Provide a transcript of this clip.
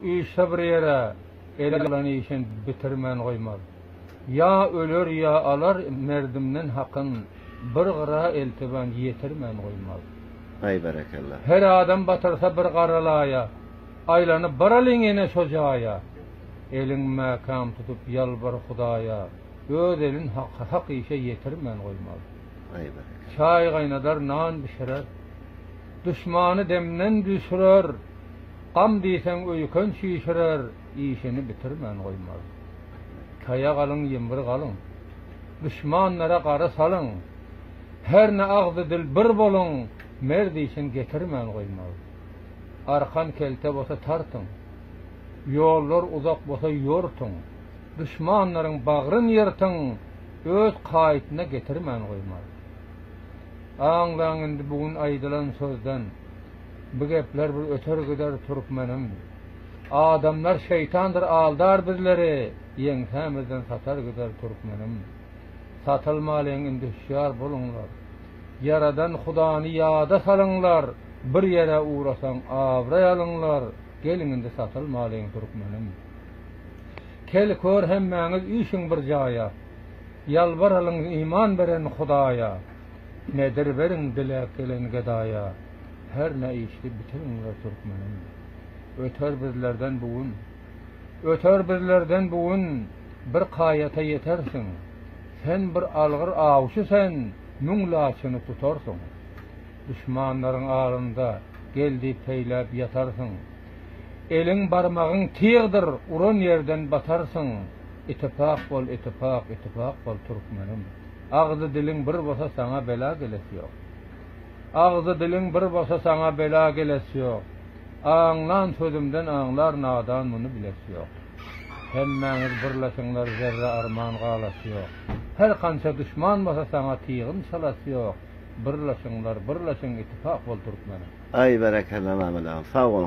Üýşse bir ýere, el alan işin bitirmän goýmaz. Ýa öler, ýa alar merdimden hakyn, bir gyra eltibän ýetirmän goýmaz. Haý, berekella! Her adam batyrsa bir gara laýa, aýlanyp baralyň ýene şo jaýa. Elin mäkäm tutup ýalbar Hudaýa, öz elin hak, hak işe ýetirmän goýmaz. Haý, berekella! Çaý gaýnadar, nan bişirer, duşmany demden düşürer, Gam diýseň öýken çişirer, işini bitirmän goýmaz. Taýak alyň, ýymbir galyň. Duşmanlara gara salyň. Hernä agzy-dil bir boluň, mert işin getirmän goýmaz. Arkan kelte bolsa tartyň. Ýollar uzak bolsa ýortuň. Duşmanlaryň bagryn ýyrtyň, öz kaýytyna getirmän goýmaz. Aňlaň indi bu gün aýdylan sözden, Bu gepler bir öter gider türkmenim. Adamlar şeýtandyr aldar bizleri, Ýeňsämizden satar gider türkmenim. Satylmalyň indi hüşýar boluňlar, Ýaradan Hudany ýada salyňlar, Bir ýere ugrasaň abraý alyňlar, Geliň indi satylmalyň türkmenim. Kel kör hemmäňiz üýşüň bir jaýa, Ýalbaralyň iman beren Hudaýa, Nedir beriň diläp gelen gedaýa, Her ne işdi bitiriňler türkmenim. Öter bizlerden bu gün, Öter bizlerden bu gün, Bir kaýata ýetersiň. Sen bir algyr awçy sen, Müň laçyny tutarsyň. Duşmanlaryň alynda, Gel diýip peýläp ýatarsyň. Eliň barmagyň tygdyr uran ýerden batarsyň Itipak bol itipak itipak bol türkmenim Agzy diliň bir bolsa saňa bela geles ýok Agzy diliň bir bolsa saňa bela geles ýok Aňlan sözümden aňlar nadan muny biles ýok Hemmäňiz birleşiňler zerre arman galas ýok Her kança duşman bolsa saňa tygyn çalas ýok Birleşiňler birleşiň itipak bol türkmenim. Aý berekella Mamadow sag bol.